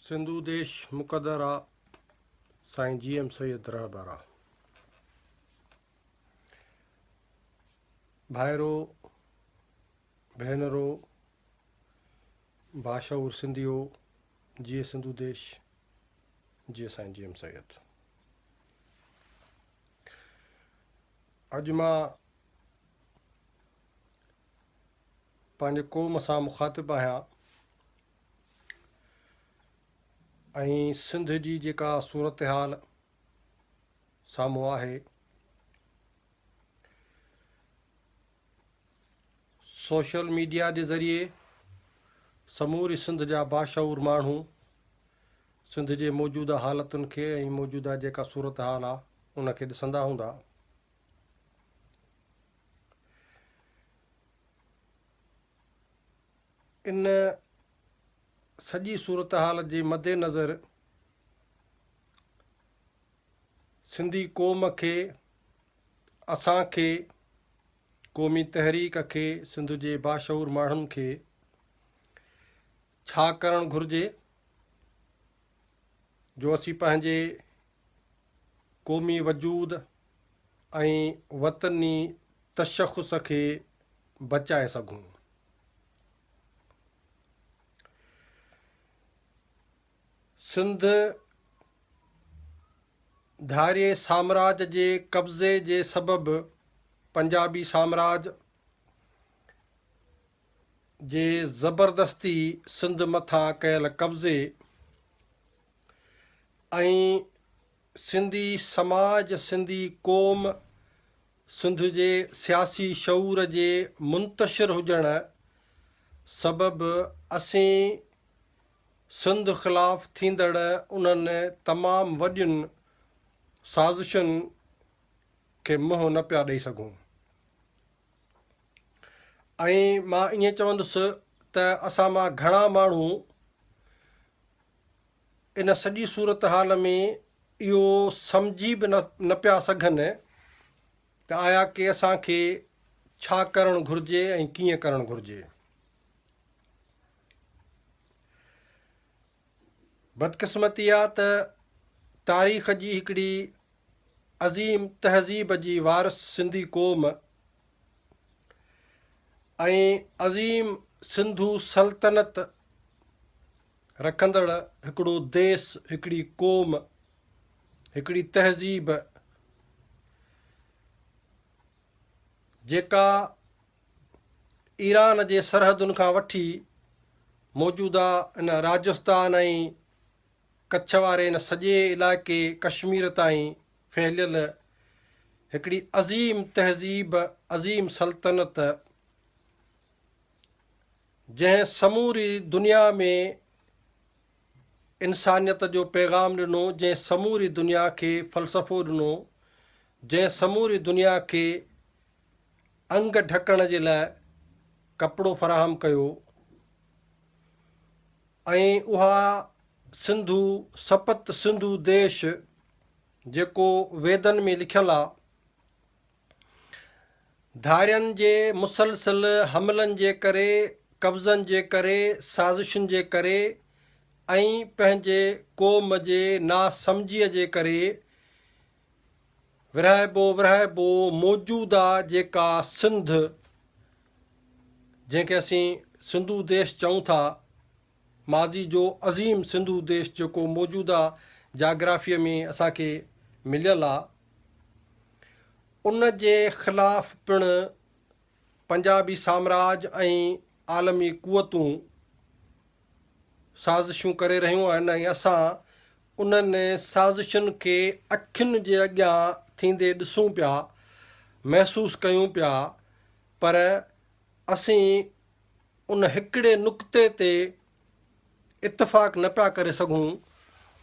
سنڌو ديش مقدر آ سائين جي ايم سيد رهبر آ ڀائرو ڀينرو باشعور سنڌيو جي سنڌو ديش جي سائين جي ايم سيد اڄ مان پنهنجي قوم سان مخاطب آهيان ۽ سنڌ جي جيڪا صورتحال سامهون آهي سوشل ميڊيا جي ذريعي سموري سنڌ جا باشعور ماڻهو سنڌ جي موجوده حالتن کي ۽ موجوده جيڪا صورتحال آهي ان کي ڏسندا هوندا ان سڄي صورتحال جي مدنظر سنڌي قوم کي اسان کي قومي تحريڪ کي سنڌ جي باشعور ماڻهن کي ڇا ڪرڻ گهرجي جو اسين پنهنجي قومي وجود ۽ وطني تشخص کي بچائي سگهون. سنڌ ڌارئي سامراج جي قبضي جي سبب پنجابي سامراج جي زبردستي سنڌ مٿان ڪيل قبضي ۽ سنڌي سماج، سنڌي قوم، سنڌ جي سياسي شعور جي منتشر هجڻ سبب اسين سنڌ خلاف ٿيندڙ انهن تمام وڏين سازشن کي منهن نه پيا ڏئي سگهون ۽ مان ائين چوندس ته اسان مان گهڻا ماڻهو ان سڄي صورتحال ۾ اهو سمجهي به نه پيا سگهن ته آيا ڪي اسان کي ڇا ڪرڻ گهرجي ۽ ڪيئن ڪرڻ گهرجي. بدقسمتي آ ته تاريخ جي هڪڙي عظيم تهذيب جي وارث سنڌي قوم ۽ عظيم سنڌو سلطنت رکندڙ هڪڙو ديس، هڪڙي قوم، هڪڙي تهذيب جيڪا ايران جي سرحدن کان وٺي موجوده ان راجستان ۽ ڪڇ واري ان سڄي علائقي ڪشمير تائين ڦهليل هڪڙي عظيم تهذيب، عظيم سلطنت، جنهن سموري دنيا ۾ انسانيت جو پيغام ڏنو، جنهن سموري دنيا کي فلسفو ڏنو، جنهن سموري دنيا کي انگ ڍڪڻ جي لاء ڪپڙو فراهم ڪيو ۽ اها سنڌو سپت سنڌو ديش جيڪو ويدن ۾ لکيل آ، ڌارين جي مسلسل حملن جي ڪري، قبضن جي ڪري، سازشن جي ڪري ۽ پنهنجي قوم جي ناسمجهيء جي ڪري ورهائبو ورهائبو موجوده جيڪا سنڌ جنهن کي اسين سنڌو ديش چئون ٿا، ماضي جو عظيم سنڌو ديش جيڪو موجوده جاگرافيء ۾ اسان کي مليل آ، ان جي خلاف پڻ پنجابي سامراج ۽ عالمي قوتون سازشون ڪري رهيون آهن ۽ اسان انهن سازشن کي اکين جي اڳيان ٿيندي ڏسون پيا، محسوس ڪيون پيا پر اسين ان هڪڙي نقطي تي اتفاق نه پيا ڪري سگهون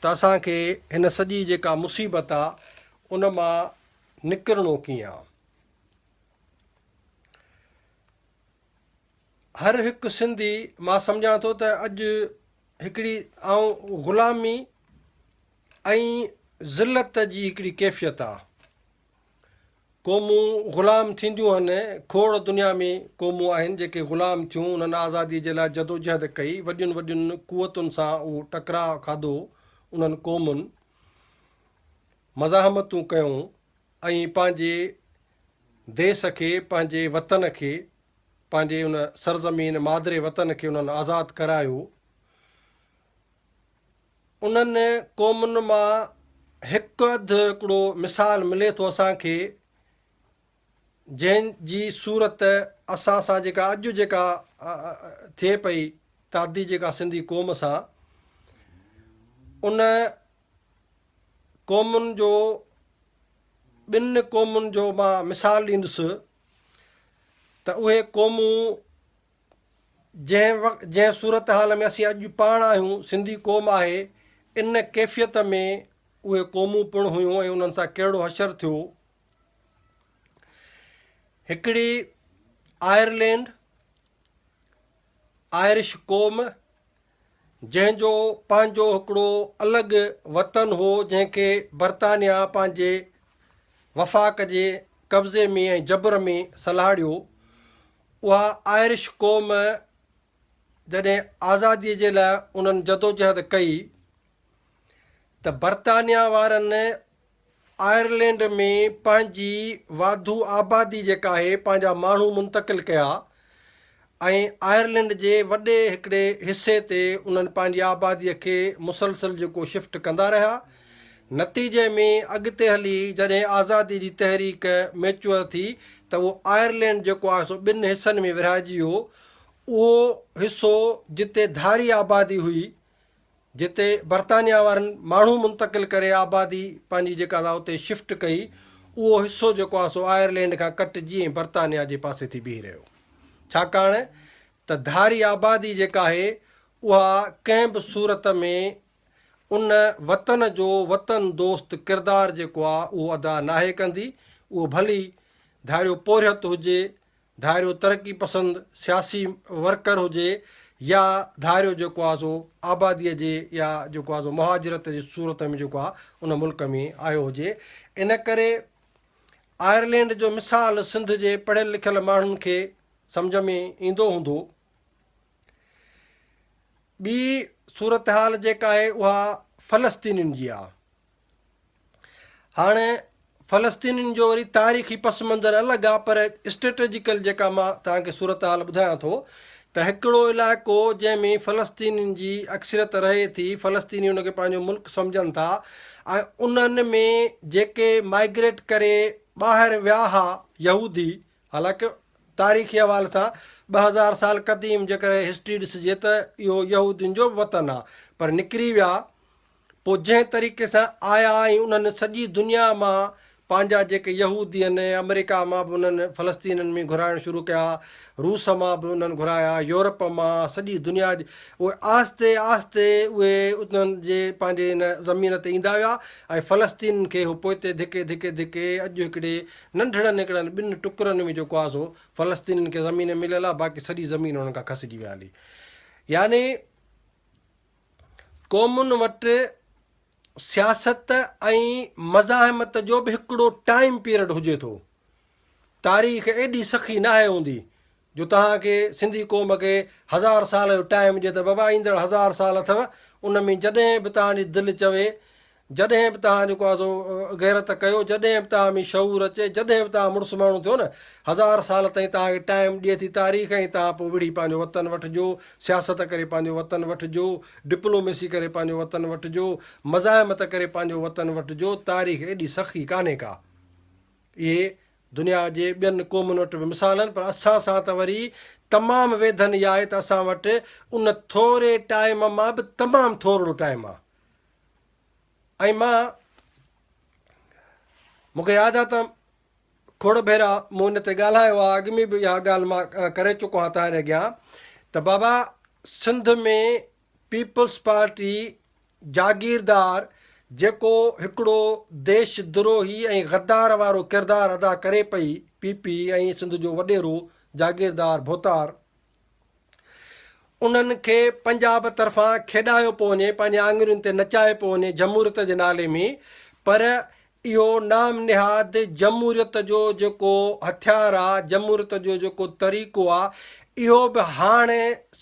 ته اسان کي هن سڄي جيڪا مصيبت آ ان مان نڪرڻو ڪيئن آ. هر هڪ سنڌي مان سمجهان ٿو ته اڄ هڪڙي آئون غلامي ۽ ذلت جي هڪڙي ڪيفيت آ. قومون غلام ٿينديون هن، کوڙ دنيا ۾ قومون آهن جيڪي غلام ٿيون، انهن آزادي جي لاء جدوجهد ڪئي، وڏين وڏين قوتن سان اهو ٽڪراء کاڌو، انهن قومن مزاحمتون ڪيون ۽ پنهنجي ديس کي، پنهنجي وطن کي، پنهنجي ان سرزمين مادري وطن کي انهن آزاد ڪرايو. انهن قومن مان هڪ اڌ هڪڙو مثال ملي ٿو اسان کي جنهن جي صورت اسان سان جيڪا اڄ جيڪا ٿئي پئي تعدي جيڪا سنڌي قوم سان ان قومن جو ٻن قومن جو مان مثال ڏيندس ته اهي قومون جنهن وقت جنهن صورتحال ۾ اسين اڄ پاڻ آهيون، سنڌي قوم آهي، ان ڪيفيت ۾ اهي قومون پڻ هيون ۽ انهن سان ڪهڙو حشر ٿيو. هڪڙي آئرلينڊ، آئرش قوم، جنهن جو پنهنجو هڪڙو الڳ وطن هو جنهن کي برطانيا پنهنجي وفاق جي قبضي ۾ ۽ جبر ۾ سلهاڙيو. اها آئرش قوم جڏهن آزادي جي لاء انهن جدوجهد ڪئي ته برطانيا وارن آئرلينڊ ۾ پنهنجي واڌو آبادي جيڪا آهي پنهنجا ماڻهو منتقل ڪيا ۽ آئرلينڊ جي وڏي هڪڙي حصي تي انهن پنهنجي آبادي کي مسلسل جيڪو شفٽ ڪندا رهيا نتيجي ۾ اڳتي هلي جڏهن آزادي جي تحريڪ ميچوئر ٿي ته اهو آئرلينڊ جيڪو آهي سو ٻن حصن ۾ ورهائجي ويو اهو حصو جتي ڌاري آبادي هئي جتي برطانيا وارن ماڻهو منتقل ڪري آبادي پنهنجي جيڪا سا اتي شفٽ ڪئي اهو حصو جيڪو آهي سو آئرلينڊ کان ڪٽجي ۽ برطانيا جي پاسي ٿي بيهي رهيو ڇاڪاڻ ته ڌاري آبادي جيڪا آهي اها ڪنهن به صورت ۾ ان وطن جو وطن دوست ڪردار جيڪو آهي اهو ادا ناهي ڪندي اهو ڀلي ڌاريو پورهيت هجي ڌاريو ترقي پسند سياسي ورڪر هجي يا ڌاريو جيڪو آ سو آباديء جي يا جيڪو آ سو مهاجرت جي صورت ۾ جيڪو آ ان ملڪ ۾ آيو هجي. ان ڪري آئرلينڊ جو مثال سنڌ جي پڙهيل لکيل ماڻهن کي سمجهه ۾ ايندو هوندو. ٻي صورتحال جيڪا آهي اها فلسطينين جي آ. هاڻ فلسطينين جو وري تاريخي پس منظر الڳ آ پر اسٽريٽجيڪل جيڪا مان توهان کي صورتحال ٻڌايان ٿو ته هڪڙو علائقو جنهن ۾ فلسطينين جي اڪثريت رهي ٿي فلسطيني ان کي پنهنجو ملڪ سمجهن ٿا ۽ انهن ۾ جيڪي مائگريٽ ڪري ٻاهر ويا ها يهودي حالانڪه تاريخي حوالي سان ٻه هزار سال قديم جيڪر هسٽري ڏسجي ته اهو يهودين جو وطن آ پر نڪري ويا پوء جنهن طريقي سان آيا ۽ انهن سڄي دنيا مان پنهنجا جيڪي يهودي آهن، آمريڪا مان به انهن فلسطينين ۾ گهرائڻ شروع ڪيا، روس مان به انهن گهرايا، يورپ مان، سڄي دنيا جي اهي آهستي آهستي اهي انهن جي پنهنجي ان زمين تي ايندا ويا ۽ فلسطينين کي اهو پوئتي ڌڪي ڌڪي ڌڪي اڄ هڪڙي ننڍڙن هڪڙن ٻن ٽڪرن ۾ جيڪو آهي سو فلسطينين کي زمين مليل آهي باقي سڄي زمين انهن کان کسجي ويل آهي يعني قومن وٽ سياست ۽ مزاحمت جو به هڪڙو ٽائيم پيرڊ هجي ٿو. تاريخ ايڏي سخي ناهي هوندي جو توهان کي سنڌي قوم کي هزار سال جو ٽائيم ڏي ته بابا ايندڙ هزار سال اٿو ان ۾ جڏهن به توهان جي دل چوي جڏهن به توهان جيڪو آهي سو غيرت ڪيو، جڏهن به توهان ۾ شعور اچي، جڏهن به توهان مڙس ماڻهو ٿيو نه، هزار سال تائين توهان کي ٽائيم ڏئي ٿي تاريخ ۽ توهان پوء وڙهي پنهنجو وطن وٺجو، سياست ڪري پنهنجو وطن وٺجو، ڊپلوميسي ڪري پنهنجو وطن وٺجو، مزاحمت ڪري پنهنجو وطن وٺجو، تاريخ ايڏي سخي ڪانهي ڪا. اهي دنيا جي ٻين قومن وٽ به مثال آهن پر اسان سان ته وري تمام ويڌن اها آهي ته اسان وٽ ان ٿوري ٽائيم مان به تمام ٿورڙو ٽائيم آهي. ۽ مان مون کي ياد آ ته کوڙ ڀيرا مون ان تي ڳالهايو آ اڳ ۾ به اها ڳالهه مان ڪري چڪو آهيان توهان اڳيان ته بابا سنڌ ۾ پيپلز پارٽي جاگيردار جيڪو هڪڙو ديش دروهي ۽ غدار وارو ڪردار ادا ڪري پئي پي پي ۽ سنڌ جو وڏيرو جاگيردار ڀوتار انهن کي پنجاب طرفان کيڏايو پيو وڃي، پنهنجي آڱرين تي نچايو پيو وڃي جمهوريت جي نالي ۾، پر اهو نام نهاد جمهوريت جو جيڪو هٿيار آ، جمهوريت جو جيڪو طريقو آ، اهو به هاڻ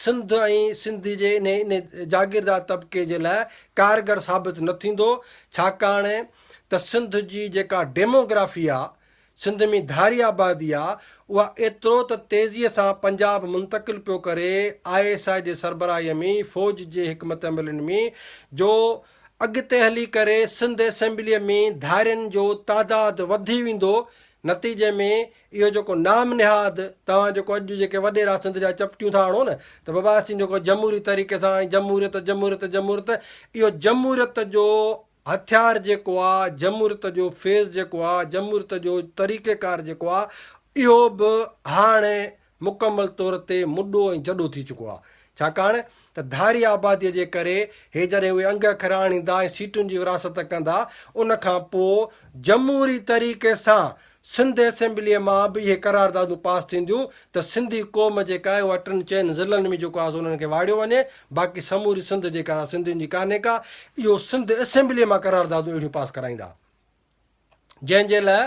سنڌ ۽ سنڌ جي انهي جاگيردار طبقي جي لاء ڪارگر ثابت نه ٿيندو، ڇاڪاڻ ته سنڌ جي جيڪا ڊيموگرافي آ، سنڌ ۾ ڌاري آبادي آ اها ايترو ته تيزي سان پنجاب منتقل پيو ڪري آء ايس آء جي سربراهي ۾ فوج جي حڪمت عملين ۾ جو اڳتي هلي ڪري سنڌ اسيمبلي ۾ ڌارين جو تعداد وڌي ويندو نتيجي ۾ اهو جيڪو نام نهاد توهان جيڪو اڄ جيڪي وڏيرا سنڌ جا چپٽيون ٿا هڻو نه ته بابا اسين جيڪو جمهوري طريقي سان جمهوريت جمهوريت جمهوريت اهو جمهوريت جو هٿيار جيڪو آ، جمهوريت جو فيز جيڪو آ، جمهوريت جو طريقه ڪار جيڪو آ، اهو به هاڻي مڪمل طور تي مڏو ۽ جڏو ٿي چڪو آ. ڇاڪاڻ ته ڌاري آباديء جي ڪري هي جڏهن اهي انگ اکر آڻيندا ۽ سيٽن جي ورهاست ڪندا، ان کان پوء جمهوري طريقي سان سنڌ اسيمبليء مان به اهي قراردادون پاس ٿينديون ته سنڌي قوم جيڪا آهي اها ٽن چئن ضلعن ۾ جيڪو آهي سو انهن کي واڙيو وڃي باقي سموري سنڌ جيڪا سا سنڌين جي ڪانهي ڪا اهو سنڌ اسيمبليء مان قراردادون اهڙيون پاس ڪرائيندا جنهن جي لاء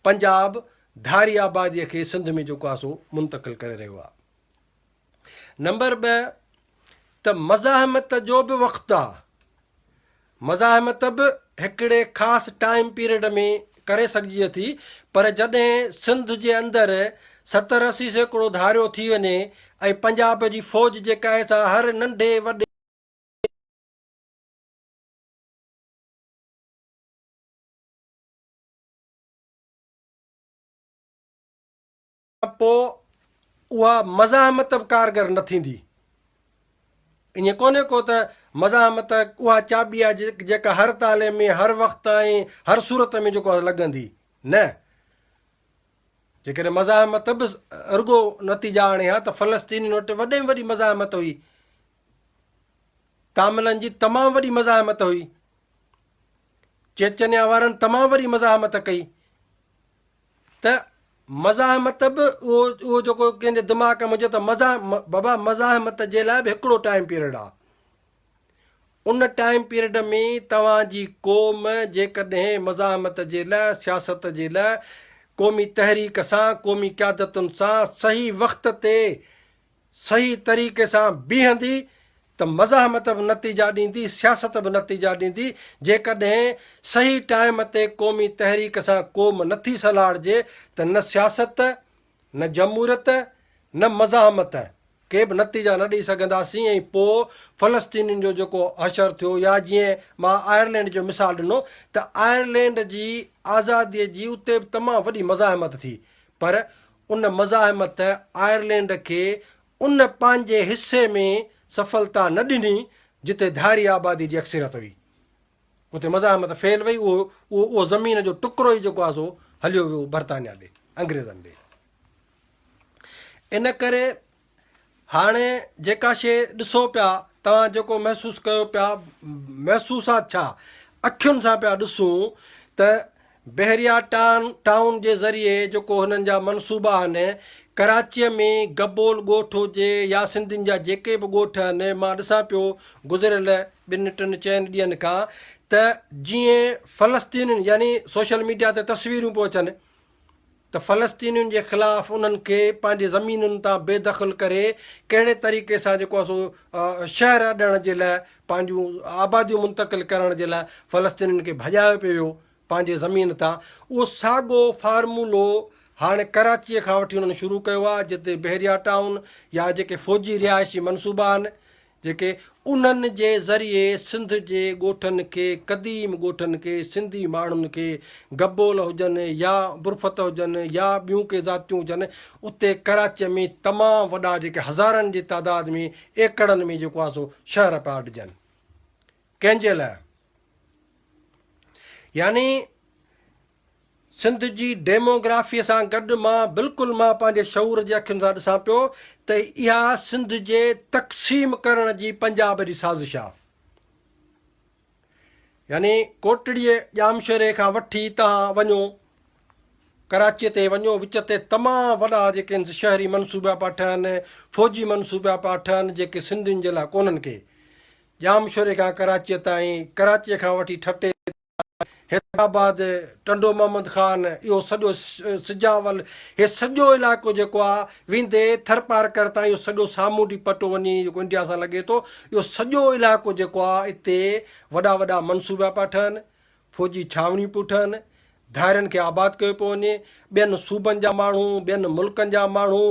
پنجاب ڌاري آباديء کي سنڌ ۾ جيڪو آهي سو منتقل ڪري رهيو آهي. نمبر ٻه ته مزاحمت جو به وقت آ، مزاحمت به هڪڙي خاص ٽائيم پيريڊ ۾ ڪري سگهجي ٿي پر جڏهن سنڌ جي اندر ستر اسي سيڪڙو ڌاريو ٿي وڃي ۽ پنجاب جي فوج جي ڪهي سان هر ننڍي وڏي ته پوء اها مزاحمت به ڪارگر نه ٿيندي. ائين ڪونهي ڪو ته مزاحمت اها چاٻي آهي جيڪا هر تالي ۾ هر وقت ۽ هر صورت ۾ جيڪو لڳندي. نه! جيڪڏهن مزاحمت به رڳو نتيجا آڻي ها ته فلسطينين وٽ وڏي ۾ وڏي مزاحمت هئي. تاملن جي تمام وڏي مزاحمت هئي. چيچنيا وارن تمام وڏي مزاحمت ڪئي. ته مزاحمت به اهو اهو جيڪو ڪنهن جي دماغ ۾ هجي ته مزا بابا مزاحمت جي لاء به هڪڙو ٽائيم پيريڊ آ ان ٽائيم پيريڊ ۾ توهان جي قوم جيڪڏهن مزاحمت جي لاء سياست جي لاء قومي تحريڪ سان قومي قيادتن سان صحيح وقت تي صحيح طريقي سان بيهندي ته مزاحمت به نتيجا ڏيندي، سياست به نتيجا ڏيندي، جيڪڏهن صحيح ٽائيم تي قومي تحريڪ سان قوم نٿي سلهاڙجي ته نه سياست، نه جمهوريت، نه مزاحمت ڪي به نتيجا نه ڏئي سگهنداسين ۽ پوء فلسطينين جو جيڪو حشر ٿيو يا جيئن مان آئرلينڊ جو مثال ڏنو ته آئرلينڊ جي آزادي جي اتي به تمام وڏي مزاحمت ٿي پر ان مزاحمت آئرلينڊ کي ان پنهنجي حصي ۾ سڦلتا نه ڏني جتي ڌاري آبادي جي اڪثريت هئي. اتي مزاحمت فيل وئي، اهو اهو اهو زمين جو ٽڪرو ئي جيڪو آهي سو هليو ويو برطانيا ڏي، انگريزن ڏي. ان ڪري هاڻي جيڪا شيء ڏسو پيا، توهان جيڪو محسوس ڪيو پيا، محسوسات ڇا، اکين سان پيا ڏسون ته بحريا ٽائون جي ذريعي جيڪو هنن جا منصوبا آهن، ڪراچيء ۾ گبول ڳوٺ هجي يا سنڌين جا جيڪي به ڳوٺ آهن، مان ڏسان پيو گذريل ٻن ٽن چئن ڏينهن کان ته جيئن فلسطينين يعني سوشل ميڊيا تي تصويرون پيون اچن، ته فلسطينين جي خلاف انهن کي پنهنجي زمينن تان بي دخل ڪري ڪهڙي طريقي سان جيڪو آهي سو شهر اڏڻ جي لاء پنهنجون آباديون منتقل ڪرڻ جي لاء فلسطينين کي ڀڄايو پيو ويو پنهنجي زمين تان اهو ساڳو فارمولو هاڻي ڪراچي کان وٺي انهن شروع ڪيو آهي جتي بحريا ٽائون يا جيڪي فوجي رهائشي منصوبا آهن جيڪي انهن جي ذريعي سنڌ جي ڳوٺن کي قديم ڳوٺن کي سنڌي ماڻهن کي گبول هجن يا برفت هجن يا ٻيون ڪي ذاتيون هجن اتي ڪراچيء ۾ تمام وڏا جيڪي هزارن جي تعداد ۾ ايڪڙن ۾ جيڪو آهي سو شهر پيا اڏجن ڪنهن جي لاء يعني سنڌ جي ڊيموگرافيء سان گڏ مان بلڪل مان پنهنجي شعور جي اکين سان ڏسان پيو ته اها سنڌ جي تقسيم ڪرڻ جي پنجاب جي سازش آ. يعني ڪوٽڙيء ڄامشوري کان وٺي تهان وڃو ڪراچيء تي وڃو وچ تي تمام وڏا جيڪي شهري منصوبا پيا ٺهن فوجي منصوبا پيا ٺهن جيڪي سنڌين جي لاء ڪونهن ڪي ڄامشوري کان ڪراچيء تائين ڪراچيء کان وٺي ٺٽي حيدرآباد، ٽنڊو محمد خان، اهو سڄو سجاول، هي سڄو علائقو جيڪو آ، ويندي ٿرپارڪر تائين اهو سڄو سامونڊي پٽو وڃي جيڪو انڊيا سان لڳي ٿو، اهو سڄو علائقو جيڪو آ، اتي وڏا وڏا منصوبا پيا ٺهن، فوجي ڇانوڻيون پيون ٺهن، ڌارين کي آباد ڪيو پيو وڃي، ٻين صوبن جا ماڻهو، ٻين ملڪن جا ماڻهو،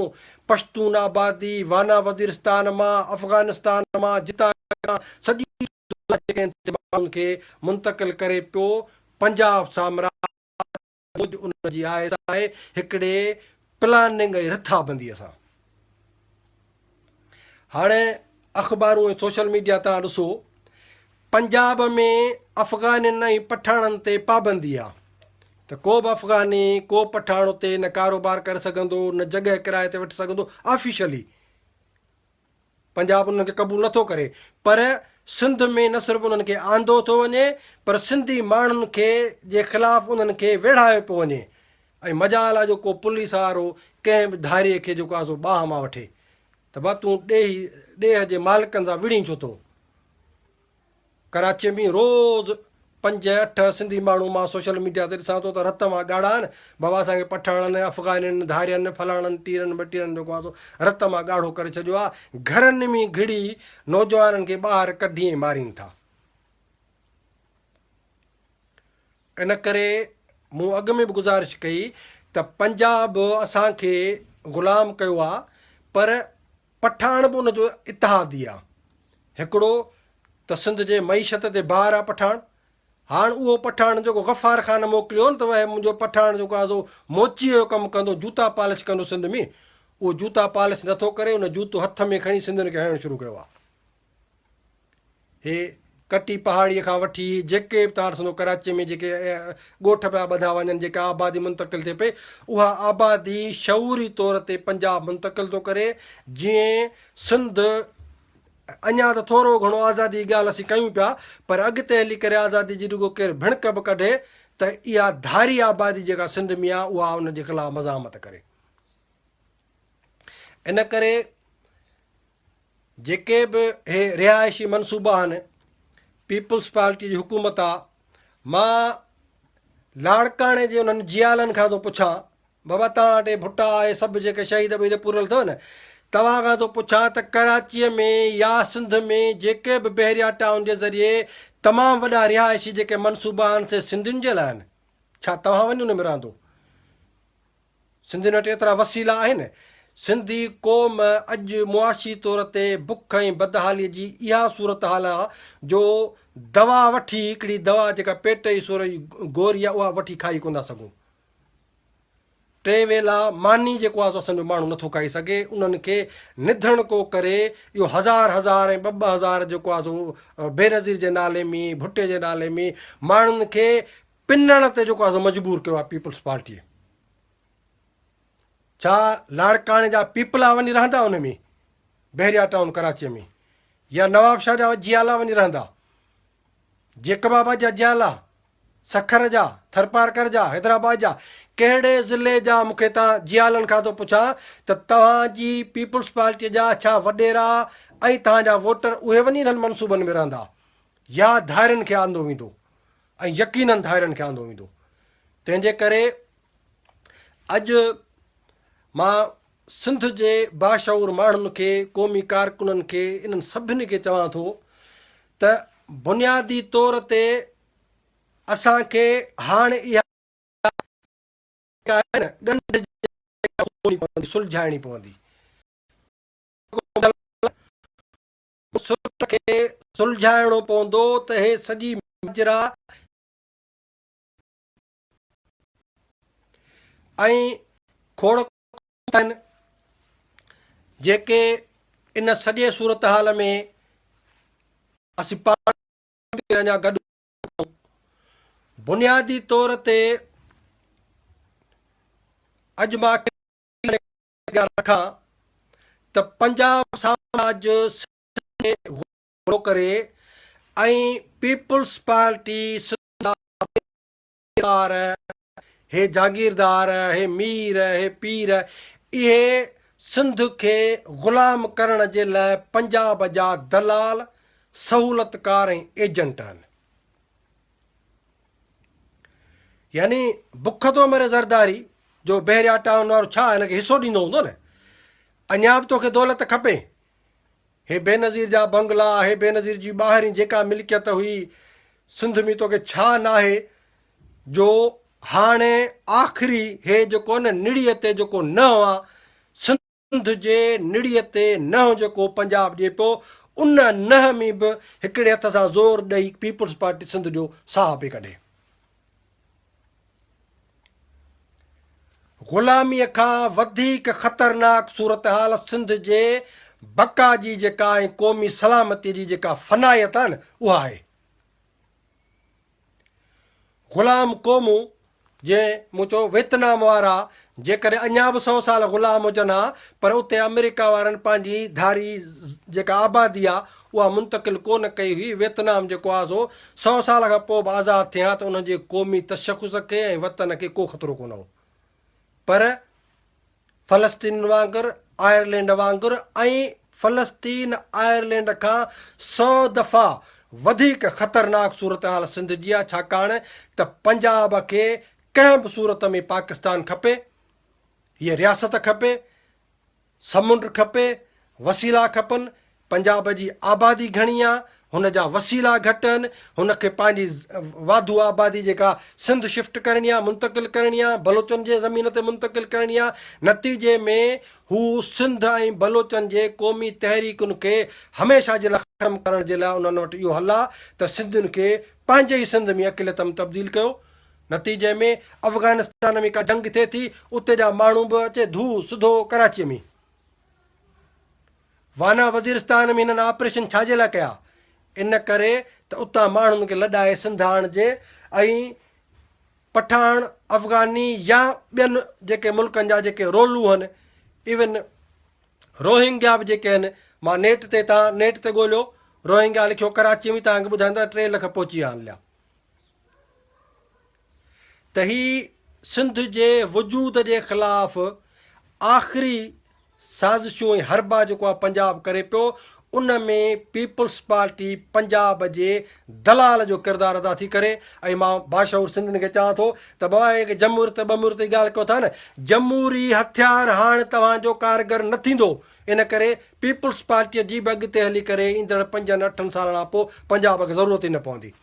پشتون آبادي، وانا وزيرستان مان، افغانستان مان، جتان جتان سڄي عبدالله جيڪڏهن سنڌ جي ماڻهن کي منتقل ڪري پيو پنجاب سامراج موجب ان جي آء ايس آء هڪڙي پلاننگ ۽ رٿابنديء سان هاڻي اخبارون ۽ سوشل ميڊيا تان ڏسو پنجاب ۾ افغانين ۽ پٺاڻن تي پابندي آ ته ڪو به افغاني ڪو پٺاڻ اتي نه ڪاروبار ڪري سگهندو نه جڳهه ڪرايي تي وٺي سگهندو آفيشلي پنجاب انهن کي قبول نٿو ڪري پر سنڌ ۾ نه صرف انهن کي آندو ٿو وڃي پر سنڌي ماڻهن کي جي خلاف انهن کي ويڙهايو پيو وڃي ۽ مجال آهي جو ڪو پوليس وارو ڪنهن به ڌاريء کي جيڪو آهي سو باهه مان وٺي ته ڀا تون ڏيهي ڏيهه جي مالڪن سان وڙهين ڇو ٿو. ڪراچيء ۾ روز پنج اٺ سنڌي ماڻهو مان سوشل ميڊيا تي ڏسان ٿو ته رت اوهان ڳاڙها آهن بابا اسان کي پٺاڻن افغانين ڌارين فلاڻن ٽيرن ٻٽيرن جو ڪواسو رت اوهان ڳاڙهو ڪري ڇڏيو آهي گهرن ۾ گهڙي نوجوانن کي ٻاهر ڪڍي ۽ مارين ٿا ان ڪري مون اڳ ۾ به گزارش ڪئي ته پنجاب اسان کي غلام ڪيو آهي پر پٺاڻ به ان جو اتحادي آ. هڪڙو ته سنڌ جي معيشت تي بار آ پٺاڻ. هاڻ اهو پٺاڻ جيڪو غفار خان موڪليو هو نه ته وهي منهنجو پٺاڻ جيڪو آ سو موچيء جو ڪم ڪندو، جوتا پالش ڪندو سنڌ ۾، اهو جوتا پالش نه ٿو ڪري، ان جوتو هٿ ۾ کڻي سنڌين کي هڻڻ شروع ڪيو آ. هي ڪٽي پهاڙيء کان وٺي جيڪي به توهان ڏسندو ڪراچيء ۾ جيڪي ڳوٺ پيا ٻڌا وڃن، جيڪا آبادي منتقل ٿئي پئي، اها آبادي شعوري طور تي پنجاب منتقل ٿو ڪري، جيئن سنڌ اڃا ته ٿورو گهڻو آزادي جي ڳالهه اسين ڪيون پيا، پر اڳتي هلي ڪري آزادي جي رڳو ڪير ڀڻڪ به ڪڍي ته اها ڌاري آبادي جيڪا سنڌ ۾ آهي، اها ان جي خلاف مزاحمت ڪري. ان ڪري جيڪي به هي رهائشي منصوبا آهن پيپلز پارٽي جي حڪومت آ مان لاڙڪاڻي جي انهن جيالن کان ٿو پڇان بابا تان ٽي ڀٽا اي سب جيڪي شهيد ويد پورل ٿو نه توهان کان ٿو پڇان ته ڪراچي ۾ يا سنڌ ۾ جيڪي به بحريا ٽائون جي ذريعي تمام وڏا رهائشي جيڪي منصوبا آهن سي سنڌين جي لاء آهن ڇا توهان وڃي ان ۾ رهندو سنڌين وٽ ايترا وسيلا آهن. سنڌي قوم اڄ معاشي طور تي بک ۽ بدحالي جي اها صورتحال آ جو دوا وٺي هڪڙي دوا جيڪا پيٽ جي سور جي گوري آ اها وٺي کائي ڪونه ٿا سگهون. ٽي ويلا ماني جيڪو آ سو اسان جو ماڻهو نه ٿو کائي سگهي انهن کي نڌڻ ڪو ڪري اهو هزار هزار ۽ ٻه ٻه هزار جيڪو آ سو بينظير جي نالي مي ڀٽي جي نالي مي ماڻهن کي پنڻ تي جيڪو اسان مجبور ڪيو آهي پيپلز پارٽيء ڇا لاڙڪاڻي جا پيپلا وڃي رهندا ان ۾ بحريا ٽائون ڪراچيء ۾ يا نواب شاهه جا جيالا وڃي رهندا جيڪب آباد جا جيالا سکر جا ٿرپارڪر جا حيدرآباد جا ڪهڙي ضلعي جا مون کي تان جيالن کان ٿو پڇان ته توهان جي پيپلز پارٽيء جا ڇا وڏيرا ۽ توهان جا ووٽر اهي وڃي انهن منصوبن ۾ رهندا يا ڌارين کي آندو ويندو ۽ يقينن ڌائرن کي آندو ويندو. تنهن جي ڪري اڄ مان سنڌ جي باشعور ماڻهن کي، قومي ڪارڪنن کي، انهن سڀني کي چوان ٿو ته بنيادي طور تي اسان کي هاڻ اها جيڪا آهي نه ڳنڍ جي جڳهه سلجهائڻي پوندي. سرت کي سلجهائڻو پوندو ته هي سڄي ماجرا ۽ کوڙڪ آهن جيڪي ان سڄي صورتحال ۾ اسين پاڻ اڃا گڏ بنيادي طور تي اڄ مان اڳيان رکان ته پنجاب سامراج سنڌ ۾ غور ٿو ڪري ۽ پيپلز پارٽي سنڌ جا زميندار، هي جاگيردار، هي مير، هي پير، اهي سنڌ کي غلام ڪرڻ جي لاء پنجاب جا دلال، سهولتڪار ۽ ايجنٽ آهن. يعني بک ٿو مري زرداري جو بحريا ٽائون وارو ڇا هن کي حصو ڏيندو هوندو نه اڃا به توکي دولت کپي هي بينظير جا بنگلا هي بينظير جي ٻاهرين جيڪا ملڪيت هئي سنڌ ۾ توکي ڇا ناهي جو هاڻي آخري هي جيڪو نه نڙيء تي جيڪو نه هوا سنڌ جي نڙيء تي نهن جيڪو پنجاب ڏي پيو، ان نهن ۾ به هڪڙي هٿ سان زور ڏئي پيپلز پارٽي سنڌ جو ساهه پئي ڪڍي. غلاميء کان وڌيڪ خطرناڪ صورتحال سنڌ جي بقا جي جيڪا ۽ قومي سلامتيء جي جيڪا فنائيت آهي نه اها آهي. غلام قومون جنهن مون چيو ويتنام وارا جيڪڏهن اڃا به سو سال غلام هجن ها پر اتي آمريڪا وارن پنهنجي ڌاري جيڪا آبادي آ اها منتقل ڪو نه ڪئي هئي ويتنام جيڪو آ سو سو سال کان پوء به آزاد ٿئي ها ته انهن جي قومي تشخص کي ۽ وطن کي ڪو خطرو ڪونه هو. پر فلسطين وانگر، آئرلينڊ وانگر ۽ فلسطين آئرلينڊ کان سؤ دفعا وڌيڪ خطرناڪ صورتحال سنڌ جي آهي ڇاڪاڻ ته پنجاب کي ڪنهن به صورت ۾ پاڪستان کپي، هيء رياست کپي، سمنڊ کپي، وسيلا کپن، پنجاب جي آبادي گهڻي آ، هن جا وسيلا گهٽ آهن، هن کي پنهنجي واڌو آبادي جيڪا سنڌ شفٽ ڪرڻي آ، منتقل ڪرڻي آ، بلوچن جي زمين تي منتقل ڪرڻي آ، نتيجي ۾ هو سنڌ ۽ بلوچن جي قومي تحريڪن کي هميشه جي لاء ختم ڪرڻ جي لاء انهن وٽ اهو حل آ ته سنڌين کي پنهنجي ئي سنڌ ۾ اقليت م تبديل ڪيو نتيجي ۾ افغانستان ۾ ڪا جنگ ٿئي ٿي اتي جا ماڻهو به اچي ڌو سڌو ڪراچي ۾ وانا وزيرستان ۾ هنن آپريشن ڇا جي لاء ڪيا ان ڪري ته اتان ماڻهن کي لڏائي سنڌ آڻجي ۽ پٺاڻ افغاني يا ٻين جيڪي ملڪن جا جيڪي رولو هن ايون روهنگيا به جيڪي هن ماں نيٽ تي تان نيٽ تي ڳوليو روهنگيا لکيو ڪراچي ۾ تانکي ٻڌائيندا ٽي لک پهچي ويا آهن ليا ته هي سنڌ جي وجود جي خلاف آخري سازشون ۽ حربا جيڪو آ پنجاب ڪري پيو ان ۾ پيپلز پارٽي پنجاب جي دلال جو ڪردار ادا ٿي ڪري ۽ مان باشعور سنڌين کي چوان ٿو ته بابا هيڪ جمهوريت ٻمهوريت جي ڳالهه ڪيو ٿا نه جمهوري هٿيار هاڻ توهان جو ڪارگر نه ٿيندو ان ڪري پيپلز پارٽي جي به اڳتي هلي ڪري ايندڙ پنجن اٺن سالن کان پوء پنجاب کي ضرورت ئي نه پوندي.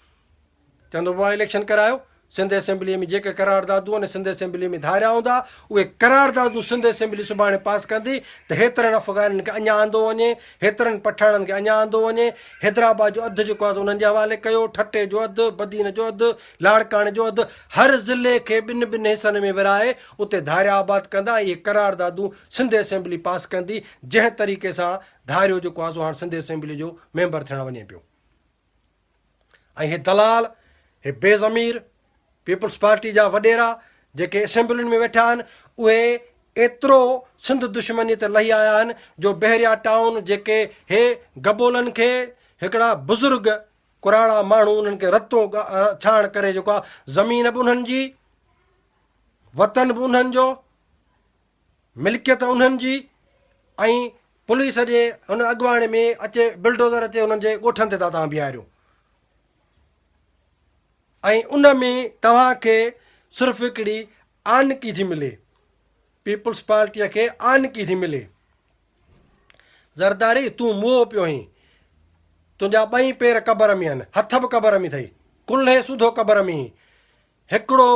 چوندو هو اليڪشن ڪرايو سنڌ اسيمبلي ۾ جيڪي قراردادون ان سنڌ اسيمبلي ۾ ڌاريا هوندا اهي قراردادون سنڌ اسيمبلي سڀاڻي پاس ڪندي ته هيترن افغانين کي اڃا آندو وڃي هيترن پٺاڻن کي اڃا آندو وڃي حيدرآباد جو اڌ جيڪو آهي انهن جي حوالي ڪيو ٺٽي جو اڌ بدين جو اڌ لاڙڪاڻي جو اڌ هر ضلعي کي ٻن ٻن حصن ۾ ورهائي اتي ڌاريا آباد ڪندا ۽ اهي قراردادون سنڌ اسيمبلي پاس ڪندي جنهن طريقي سان ڌاريو جيڪو آهي سو هاڻ سنڌ اسيمبلي جو ميمبر ٿيڻ وڃي پيو ۽ هي دلال، هي بي ضمير پيپلز پارٽي جا وڏيرا جيڪي اسيمبلين ۾ ويٺا آهن اهي ايترو سنڌ دشمني تي لهي آيا آهن جو بحريا ٽائون جيڪي هي گبولن کي هڪڙا بزرگ ڪراڙا ماڻهو انهن کي رتو ڇاڻ ڪري جيڪو آهي زمين به انهن جي وطن به انهن جو ملڪيت انهن جي ۽ پوليس جي ان اڳواڻي ۾ اچي بلڊوزر اچي انهن جي ڳوٺن تي ٿا توهان بيهاريو ۽ ان ۾ توهان کي صرف هڪڙي آنڪي ٿي ملي پيپلز پارٽيء کي آنڪي ٿي ملي زرداري تون موهو پيو هين تنهنجا ٻئي پير قبر ۾ آهن هٿ به قبر ۾ اٿئي ڪلهي سوڌو قبر ۾ هڪڙو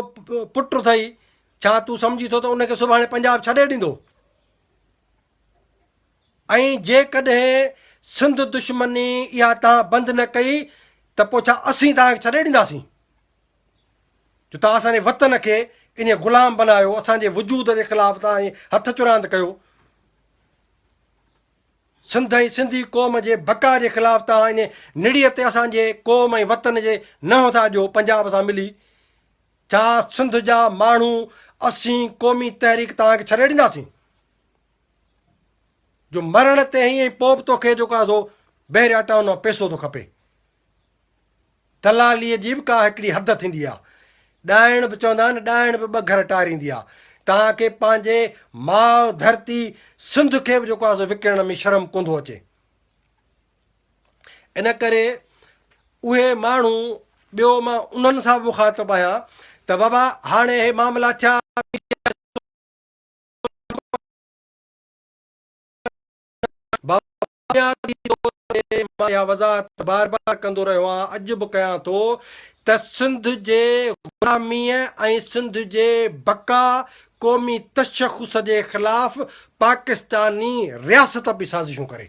پٽ اٿئي ڇا تون سمجهين ٿو ته ان کي سڀاڻي پنجاب ڇڏي ڏيندو؟ ۽ جيڪڏهن سنڌ دشمني اها توهان بند نه ڪئي ته پوء ڇا اسين توهان کي ڇڏي ڏينداسين جو توهان اسان جي وطن کي ان غلام بنايو اسان جي وجود جي خلاف توهان هٿ چراند ڪيو سنڌ ۽ سنڌي قوم جي بقا جي خلاف توهان ان نڙيء تي اسان جي قوم ۽ وطن جي نه ٿا ڏيو پنجاب سان ملي ڇا سنڌ جا ماڻهو اسين قومي تحريڪ توهان کي ڇڏي ڏينداسين جو مرڻ تي هئين پوء به توکي جيڪو آهي سو بحريا ٽائون مان پيسو ٿو کپي دلالي جي به ڪا هڪڙي حد ٿيندي آهي ڏائڻ به چوندا آهن ڏائڻ به ٻه گهر ٽاريندي آهي توهان کي پنهنجي ماء ڌرتي سنڌ کي به جيڪو آهي سو وڪڻڻ ۾ شرم ڪوندو اچي ان ڪري اهي ماڻهو ٻيو مان انهن سان به مخاطب آهيان ته بابا هاڻي اهي معاملا ٿيا اها وضاحت بار بار ڪندو رهيو آهيان اڄ به ڪيان ٿو ته سنڌ جي غلامي ۽ سنڌ جي بقا قومي تشخص جي خلاف پاڪستاني رياست به سازشون ڪري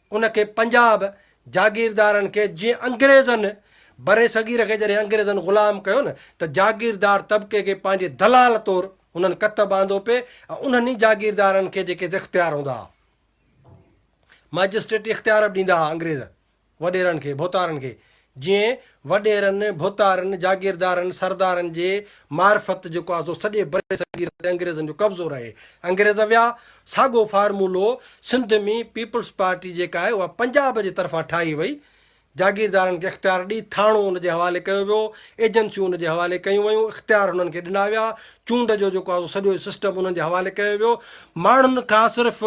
ان کي پنجاب جاگيردارن کي جيئن انگريزن برصغير کي جڏهن انگريزن غلام ڪيو نه ته جاگيردار طبقي کي پنهنجي دلال طور هنن ڪتب آندو پي ۽ انهن ئي جاگيردارن کي جيڪي اختيار هوندا ها مئجسٽريٽي اختيار به ڏيندا ها انگريز وڏيرن کي ڀوتارن کي جيئن وڏيرن، ڀوتارن، جاگيردارن، سردارن جي معرفت جيڪو آسو سڄي برصغير تي انگريزن جو قبضو رهي. انگريز ويا، ساڳو فارمولو سنڌ ۾ پيپلز پارٽي جيڪا آهي اها پنجاب جي طرفان ٺاهي وئي. جاگيردارن کي اختيار ڏئي ٿاڻو ان جي حوالي ڪيو ويو، ايجنسيون ان جي حوالي ڪيون ويون، اختيار انهن کي ڏنا ويا، چونڊ جو جيڪو آسو سڄو سسٽم انهن جي حوالي ڪيو ويو. ماڻهن کان صرف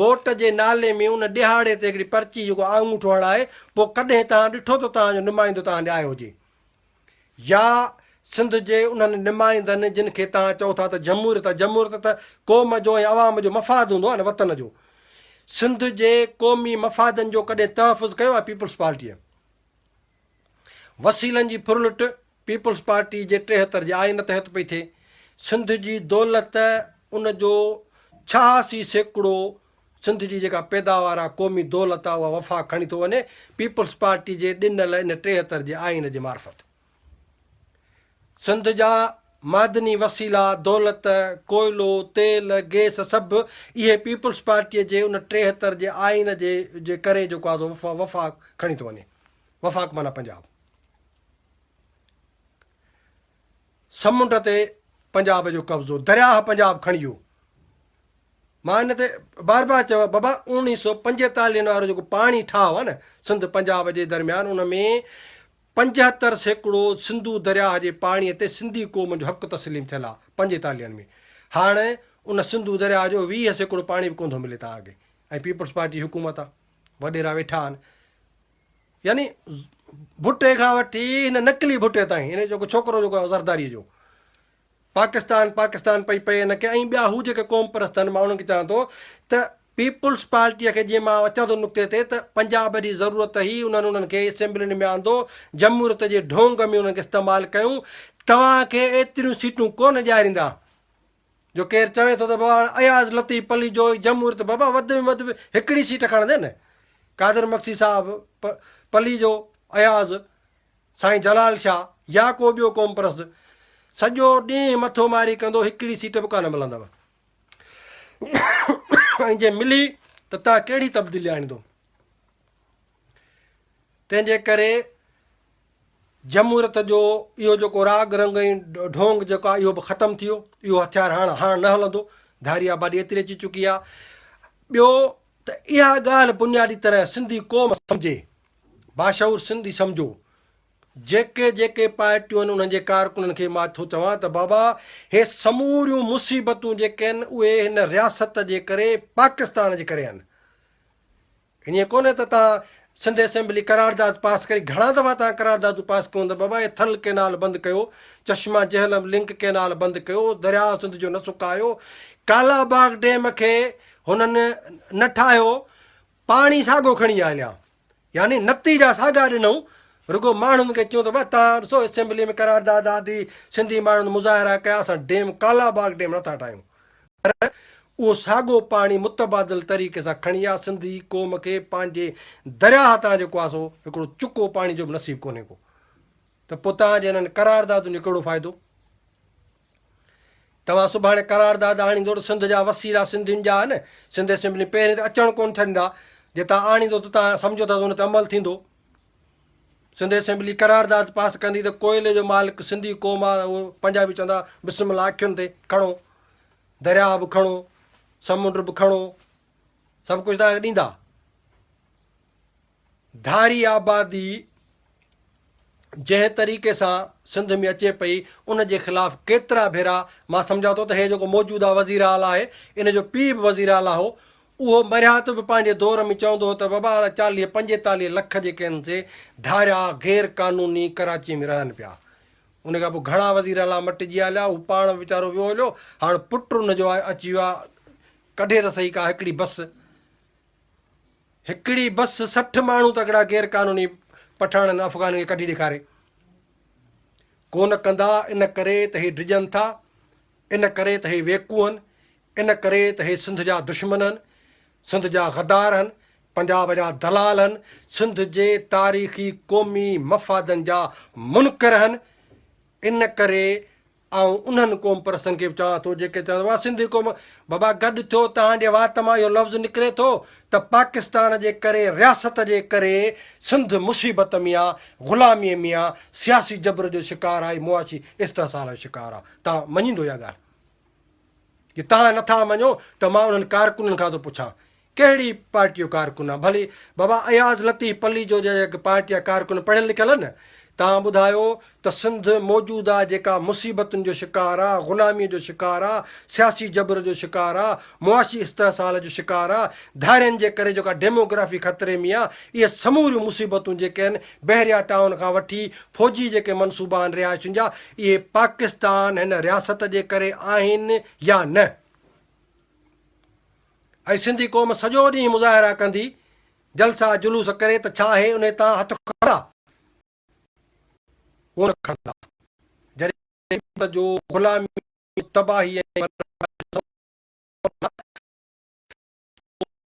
ووٽ جي نالي ۾ ان ڏيهاڙي تي هڪڙي پرچي جيڪو آڱوٺو هڻائي پوء ڪڏهن توهان ڏٺو ته توهان جو نمائندو توهان ڏي آيو هجي يا سنڌ جي انهن نمائندن جن کي توهان چئو ٿا ته جمهوريت آهي جمهوريت ته قوم جو ۽ عوام جو مفاد هوندو آهي نه وطن جو سنڌ جي قومي مفادن جو ڪڏهن تحفظ ڪيو آهي پيپلز پارٽيء. وسيلن جي ڦرلٽ پيپلز پارٽي جي ٽيهتر جي آئين تحت پئي ٿئي. سنڌ جي دولت ان جو ڇهاسي سيڪڙو سنڌ جي جيڪا پيداوار آ قومي دولت آ اها وفاق کڻي ٿو وڃي پيپلز پارٽي جي ڏنل ان ٽيهتر جي آئين جي معرفت سنڌ جا معدني وسيلا دولت ڪوئلو تيل گيس سڀ اهي پيپلز پارٽي جي ان ٽيهتر جي آئين جي جي ڪري جيڪو آ سو وفاق کڻي ٿو وڃي. وفاق معنيٰ پنجاب. سمنڊ تي پنجاب جو قبضو، درياهه پنجاب کڻي ويو. مان ان تي بار بار چيو آهي بابا اوڻيهه سؤ پنجيتاليهن وارو جيڪو پاڻي ٺاهه آهي نه سنڌ پنجاب جي درميان ان ۾ پنجهتر سيڪڙو سنڌو درياهه جي پاڻي تي سنڌي قوم جو حق تسليم ٿيل آهي پنجيتاليهن ۾ هاڻ ان سنڌو درياهه جو ويهه سيڪڙو پاڻي به ڪونڌو ملي تان اڳي ۽ پيپلز پارٽي جي حڪومت آهي وڏيرا ويٺا آهن يعني ڀٽي کان وٺي هن نقلي ڀٽي تائين هن جو ڇوڪرو جيڪو آهي زرداري جو پاڪستان پاڪستان پئي پئي هن کي ۽ ٻيا هو جيڪي قوم پرست آهن مان انهن کي چوان ٿو ته پيپلز پارٽيء کي جيئن مان اچان ٿو نقطي تي ته پنجاب جي ضرورت هئي انهن انهن کي اسيمبلين ۾ آندو جمهوريت جي ڍونگ ۾ انهن کي استعمال ڪيون توهان کي ايتريون سيٽون ڪونه ڏياريندا جو ڪير چوي ٿو ته بابا هاڻ اياز لطيف پليجو ۽ جمهوريت بابا وڌ ۾ وڌ هڪڙي سيٽ کڻندي نه قادر مگسي صاحب پليجو اياز سائين جلال شاهه يا ڪو ٻيو قوم پرست سڄو ڏينهن مٿو ماري ڪندو هڪڙي سيٽ به ڪانه ملندو ۽ جي ملي ته تان ڪهڙي تبديلي آڻيندو تنهن جي ڪري جمهوريت جو اهو جيڪو راڳ رنگ ۽ ڍونگ جيڪو آهي اهو به ختم ٿيو اهو هٿيار هاڻ هاڻ نه هلندو ڌاري آبادي ايتري اچي چڪي آهي ٻيو ته اها ڳالهه بنيادي طرح سنڌي قوم سمجهي باشعور سنڌي سمجهو جيڪي جيڪي پارٽيون آهن انهن جي ڪارڪنن کي مان ٿو چوان ته بابا هي سموريون مصيبتون جيڪي آهن اهي هن رياست جي ڪري پاڪستان جي ڪري آهن ائين ڪونهي ته تان سنڌ اسيمبلي قرارداد پاس ڪري گهڻا دفعا تان قراردادون پاس ڪيون ته بابا هي ٿل ڪينال بند ڪيو چشما جهلم لنڪ ڪينال بند ڪيو درياء سنڌ جو نه سڪايو ڪالا باغ ڊيم کي هنن نه ٺاهيو پاڻي ساڳو کڻي آ هليا يعني نتيجا ساڳا ڏنون رڳو ماڻهن کي چيون ته بابا تان ڏسو اسيمبلي ۾ قرارداد آندي سنڌي ماڻهن مظاهرا ڪيا اسان ڊيم ڪالا باغ ڊيم نٿا ٺاهيون پر اهو ساڳو پاڻي متبادل طريقي سان کڻي آ سنڌي قوم کي پنهنجي درياهه تان جيڪو آ سو هڪڙو چڪو پاڻي جو به نصيب ڪونهي ڪو ته پو تان جي انهن قراردادن جو ڪهڙو فائدو توهان سڀاڻي قرارداد آڻيندو ته سنڌ جا وسيلا سنڌين جا آهن سنڌ اسيمبلي پهرين ته اچڻ ڪون ڇڏندا جي تان آڻيندو ته تان سمجهو ٿا ته ان تي عمل ٿيندو سنڌ اسيمبلي قرارداد پاس ڪندي ته ڪوئلي جو مالڪ سنڌي قوم آ اهو پنجا به چوندا بسم الله اکين تي کڻو درياء به کڻو سمنڊ به کڻو سڀ ڪجهه تان ڏيندا ڌاري آبادي جنهن طريقي سان سنڌ ۾ اچي پئي ان جي خلاف ڪيترا ڀيرا مان سمجھا ٿو ته هي جيڪو موجوده وزير اعليٰ آهي ان جو پيء به وزير اعليٰ هو اهو مرهات به پنهنجي دور ۾ چوندو هو ته وبا وارا چاليهه پنجيتاليهه لک جيڪي هن سي ڌاريا غير قانوني ڪراچيء ۾ رهن پيا ان کان پوء گهڻا وزير اعليٰ مٽجي هليا هو پاڻ ويچارو ويو هليو هاڻ پٽ ان جو آهي اچي ويو آهي ڪڍي ته صحيح ڪا هڪڙي بس هڪڙي بس سٺ ماڻهو تڪڙا غير قانوني پٺاڻن افغانن کي ڪڍي ڏيکاري ڪون ڪندا ان ڪري ته هي ڊڄن ٿا ان ڪري ته هي ويڪوهن ان ڪري ته هي سنڌ جا دشمن هن، سنڌ جا غدار هن، پنجاب جا دلال هن، سنڌ جي تاريخي قومي مفادن جا منڪر هن، ان ڪري آئون انهن قوم پرستن کي به چوان ٿو جيڪي چون ٿا واھ سنڌي قوم بابا گڏ ٿيو توهان جي وات مان اهو لفظ نڪري ٿو ته پاڪستان جي ڪري رياست جي ڪري سنڌ مصيبت ۾ آ غلامي ۾ آ سياسي جبر جو شڪار آهي معاشي استحصال جو شڪار آ تان مڃيندو اها ڳالھ جي توهان نٿا مڃو ته مان انهن ڪارڪنن کان ٿو پڇان ڪهڙي پارٽي جو ڪارڪن آ ڀلي بابا اياز لطيف پليجو جا اهي پارٽي جا ڪارڪن پڙهيل لکيل آهن توهان ٻڌايو ته سنڌ موجوده جيڪا مصيبتن جو شڪار آ غلامي جو شڪار آ سياسي جبر جو شڪار آ معاشي استحصال جو شڪار آ ڌارين جي ڪري جيڪا ڊيموگرافي خطري ۾ آ اهي سموريون مصيبتون جيڪي آهن بحريا ٽائون کان وٺي فوجي جيڪي منصوبا آهن رهائشين جا اهي پاڪستان هن رياست جي ڪري آهن يا نه؟ اڄ سنڌي قوم سڄو ڏينهن مظاهرا ڪندي جلسا جلوس ڪري ته ڇا اهي انهي تان هٿ کڻندا؟ ڪونه کڻندا. جڏهن غريب جو غلامي تباهي ۽ بربادي جو سبب بڻندا ته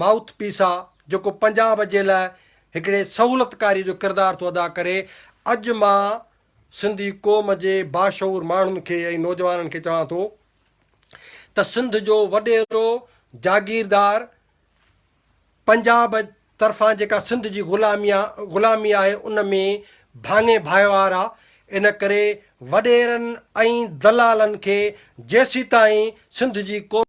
مائوٿ پيس آ جيڪو پنجاب جي لاء هڪڙي سهولت ڪاري جو ڪردار ٿو ادا ڪري اڄ مان سنڌي قوم جي باشعور ماڻهن کي ۽ نوجوانن کي چوان ٿو ته سنڌ جو وڏيرو جاگيردار پنجاب طرفان جيڪا سنڌ جي غلامي غلامي آهي ان ۾ ڀاڱي ڀائيوار آ ان ڪري وڏيرن ۽ دلالن کي جيسيتائين سنڌ جي قومي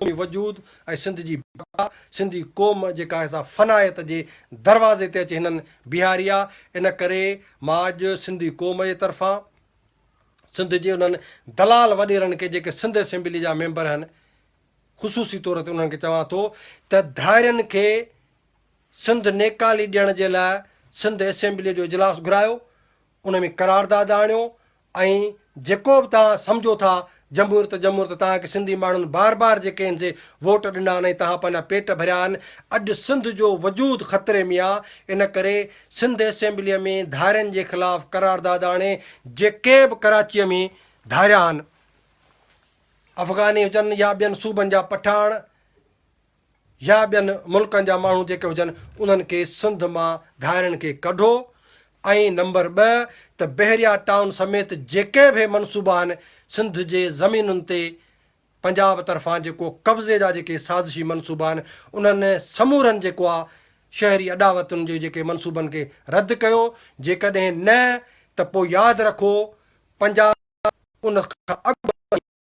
قومي وجود ۽ سنڌ جي بقا، سنڌي قوم جيڪا هي سا فنائيت جي دروازي تي اچي هنن بيهاري آ، ان ڪري مان اڄ سنڌي قوم جي طرفان سنڌ جي انهن دلال وڏيرن کي جيڪي سنڌ اسيمبلي جا ميمبر هن خصوصي طور تي انهن کي چوان ٿو ته ڌائرين کي سنڌ نيڪالي ڏيڻ جي لاء سنڌ اسيمبلي جو اجلاس گهرايو ان ۾ قرارداد آڻيو ۽ جيڪو به توهان سمجهو ٿا جمهور ته جمهور ته توهان کي سنڌي ماڻهن بار بار جيڪي هن سي ووٽ ڏنا آهن ۽ توهان پنهنجا پيٽ ڀريا آهن اڄ سنڌ جو وجود خطري ۾ آهي ان ڪري سنڌ اسيمبلي ۾ ڌارين جي خلاف قرارداد آڻي جيڪي به ڪراچي ۾ ڌاريا آهن افغاني هجن يا ٻين صوبن جا پٺاڻ يا ٻين ملڪن جا ماڻهو جيڪي هجن انهن کي سنڌ مان گهائرن کي ڪڍو ۽ نمبر ٻه ته بحريا ٽائون سميت جيڪي به منصوبا آهن سنڌ جي زمينن تي پنجاب طرفان جيڪو قبضي جا جيڪي سازشي منصوبا آهن انهن سمورن جيڪو آ شهري اڏاوتن جي جيڪي منصوبن کي رد ڪيو جيڪڏهن نه ته پوء ياد رکو پنجاب ان کان اڳ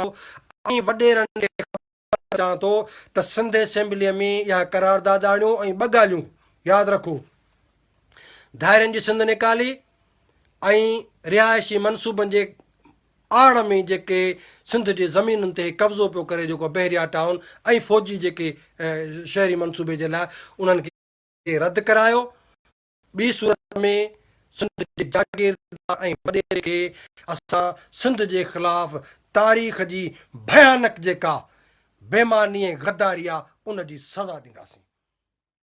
ٿو ۽ وڏيرن کي خبر ڏيڻ چاهان ٿو ته سنڌ اسيمبليء ۾ اها قرارداد آڻيو ۽ ٻه ڳالهيون ياد رکو ڌائرين جي سنڌ نيڪالي ۽ رهائشي منصوبن جي آڙ ۾ جيڪي سنڌ جي زمينن تي قبضو پيو ڪري جيڪو بحريا ٽائون ۽ فوجي جيڪي شهري منصوبي جي لاء انهن کي رد ڪرايو ٻي صورت ۾ سنڌ جي جاگيردار ۽ وڏيري کي اسان سنڌ جي خلاف تاريخ جي ڀيانڪ جيڪا بيماني ۽ غداري آ ان جي سزا ڏينداسين.